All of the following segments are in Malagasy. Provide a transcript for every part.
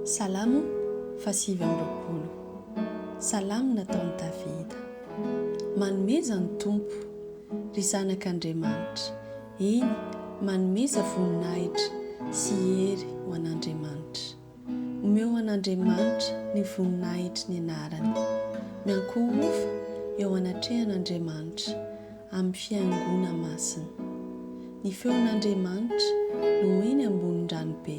Salamo fahasivy amby roapolo. Salamo nataon'i Davida. Manomeza ny Tompo, ry zanak' Andriamanitra, eny, manomeza voninahitra sy hery ho an'Andriamanitra. Omeo an'Andriamanitra ny voninahitry ny anarany. Miankohofa eo anatrehan'Andriamanitra amin'ny fiangona masina. Ny feon'Andriamanitra no eny ambonin'ny ranobe.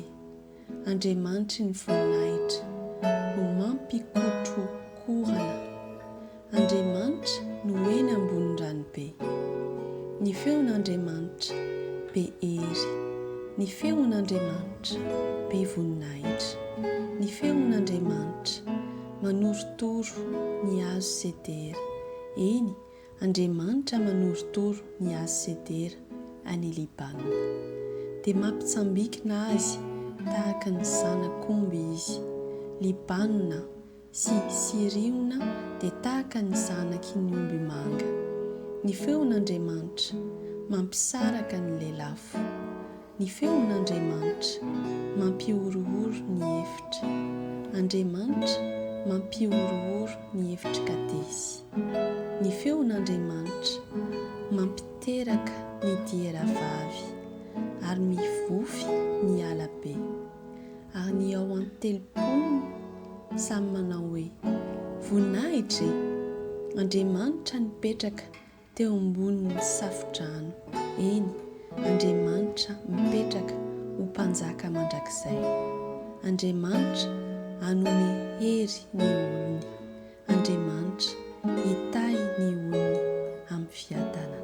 Andriamanitry ny voninahitra no mampikotrokorana. Andriamanitra no eny ambonin'ny ranobe. Ny feon'Andriamanitra be hery. Ny feon'Andriamanitra be voninahitra. Ny feon'Andriamanitra manorotoro ny hazo sedera. Eny, Andriamanitra manorotoro ny hazo sedera any Libana. Dia mampitsambikina azy tahaka ny zanak'omby izy. Libana, sy Siriona dia tahaka ny zanaky ny omby manga. Ny feon'Andriamanitra, mampisaraka ny lelafo. Ny feon'Andriamanitra, mampihorohoro ny efitra. Andriamanitra mampihorohoro ny efitr'i Kadesy. Ny feon'Andriamanitra, mampiteraka ny diera vavy, ary mivofy ny ala be. Ary ny ao an-telopolony samy manao hoe, Voninahitra e! Andriamanitra nipetraka teo ambonin'ny safo-drano, eny, Andriamanitra mipetraka ho Mpanjaka mandrakizay. Andriamanitra hanome hery ny olony. Andriamanitra hitahy ny olony amin'ny fiadanana.